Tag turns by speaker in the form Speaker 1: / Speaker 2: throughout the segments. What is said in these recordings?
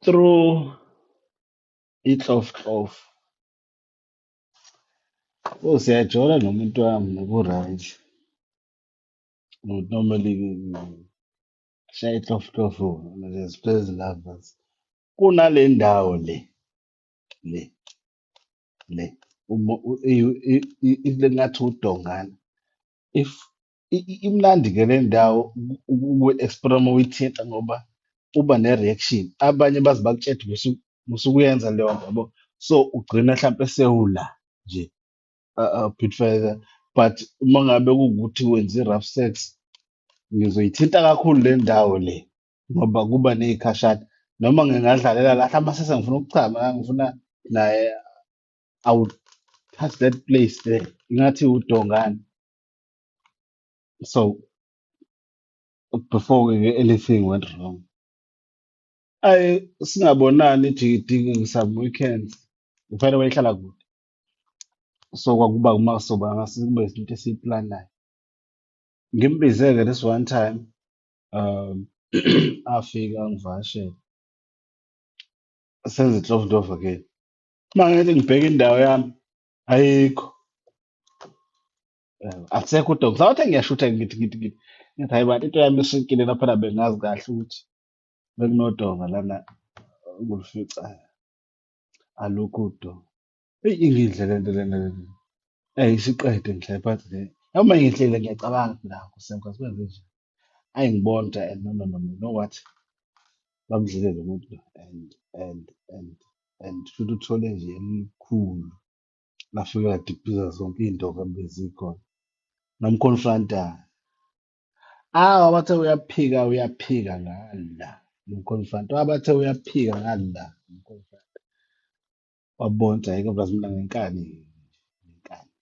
Speaker 1: through itlofklof o siyajola nomuntu wami noku-right ukuthi normally shaya itlofklof ngeziplezi lovers kunale ndawo le le le uma u- i- i- i- i- ngathi udongana if I- i- Imnandi ke le ndawo uku-explore uma uyithinta ngoba uba ne-reaction. Abanye baze bakutshede musu- musukuyenza leyo nto yabo. So ugcina hlampe sewula nje uh, uh, Pitfire. But uma ngabe kuwukuthi wenza i-rough sex ngizoyithinta kakhulu le ndawo le ngoba kuba neyikhashana noma ngingadlalela la hlampe sese ngifuna ukuchama la ngifuna naye i would touch that place there ingathi udongane so before ke anything went wrong ayi singabonani jikidiki some weekends ngifane wayehlala kude so kwakuba uma soba ngase kube izinto esiyiplanayo ngimbize-ke this one time um afika angivakashele senze inhlobonhlobo ke uma ngithi ngibheka indawo yami ayikho Eh, akusekho udokotela ngisawathe ngiyashutha ngithi ngithi ngithi ngithi hayi bantu into yami isinkile lapha na bengazi kahle ukuthi bekunodonga lana nguluficayo alukho udonga eyi ingidle lento lena lena eyi isiqede ngihlale phansi nje noma ngihlele ngiyacabanga nako sengathi kwenze nje Ayi ngibona ukuthi and no no no no, you know what? Bamdlile lo muntu lo and and and and futhi uthole nje elikhulu lafika ladiphiza zonke iy'ndonga bezikhona namconfronta awu abathe uyaphika uyaphika ngala namconfronta abathe uyaphika ngala namconfronta wabona ukuthi ayike bazimla ngenkani ngenkani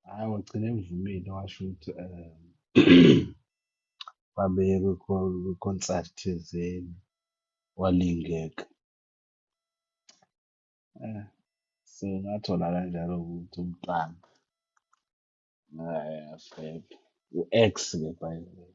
Speaker 1: Hhayi, wagcina evumile washo ukuthi um babeye kwikho- kwikhonsathi thizeni walingeka. Eh, so ngathola kanjalo ukuthi umntwana eh, febe. U-ex-ke by the way.